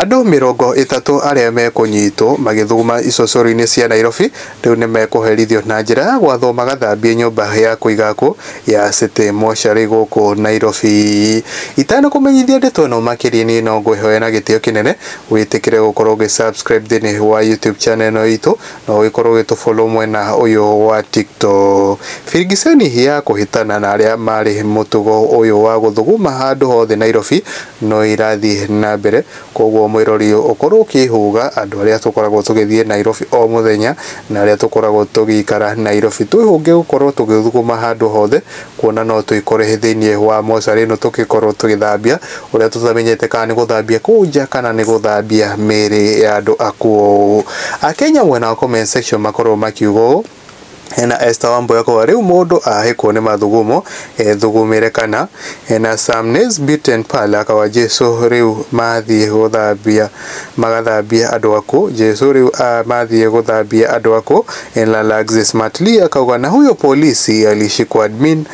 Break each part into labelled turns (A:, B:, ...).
A: Andũ mĩrongo ĩtatũ arĩa mekũnyitwo magĩthuguma icocoro-inĩ cia Nairobi rĩu nĩmekũherithio na njĩra ya gwathwo magathambie nyũmba ya kũiga akũ ya City Mortuary gũkũ Nairobi. Itanakũmenyithia ndeto ĩno makĩria niĩ no ngwĩhoya na gĩtĩo kĩnene wĩtĩkĩre gũkorwo ũgĩ subscribe thĩinĩ wa YouTube channel ĩno itũ na ũgĩkorwo ũgĩtũ follow mwena ũyũ wa TikTok. Birigiceni ya kũhĩtana na arĩa marĩ mũtugo ũyũ wa gũthuguma handũ hothe Nairobi no irathiĩ na mbere, kwoguo mwĩrori ũkorwo ũkĩhũga andũ arĩa tũkoragwo tũgĩthiĩ Nairobi o mũthenya na arĩa tũkoragwo tũgĩikara Nairobi. Twĩhũge gũkorwo tũgĩthuguma handũ hothe, kuona no twĩkore thĩinĩ wa mocarĩ ĩno tũgĩkorwo tũgĩthambia ũrĩa tũtamenyete kana nĩ gũthambia kũu nja kana nĩ gũthambia mĩĩrĩ ya andũ akuũ. Akenya mwena wa comment section makorwo makiuga ũũ. na Esther Wambua Koa rĩu mũndũ ahĩkwo nĩ mathugumo ethugumĩre kana na Sam Nesbitt and Pearl aka wa Jesu rĩu mathiĩ gũthambia magathambie andũ aku Jesu rĩu ah, mathiĩ gũthambie andũ aku na Laxis Matli akauga na huyo polisi alishikwa admin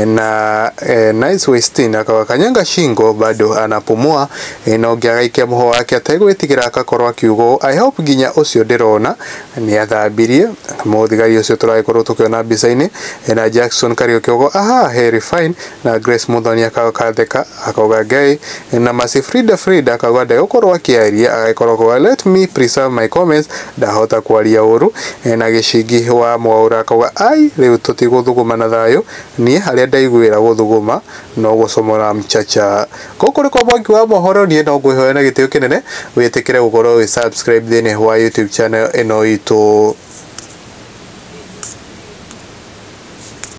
A: na eh, Nice Westin akauga kanyanga shingo bado anapumua eh, na ũngĩ agaikia mũhwa wake ategwĩtigĩra akakorwo akiuga ũũ, I hope nginya ũcio ndĩrona Nĩ athambirie. Mũthigari ũcio tũragĩkorwo tũkĩona mbica-inĩ ena Jackson Kariuki ũgo ahaa he refine na Grace Muthoni akatheka akauga gay na Mercy Frida Frida akauga ndegũkorwo akĩaria agagĩkorwo akauga let me preserve my comments ndahota kwaria ũru na Gĩchingi wa Mwaura akauga ai rĩu tũtigũthuguma na thayũ niĩ harĩa ndaiguĩra gũthuguma No gũcomwo na mchacha. Gũkũ nĩkwa mwangi wa mohoro niĩ no ngwĩhoya na gĩtĩo kĩnene wĩtĩkĩre gũkorwo wĩ subscribe thĩinĩ wa YouTube channel ĩno itũ.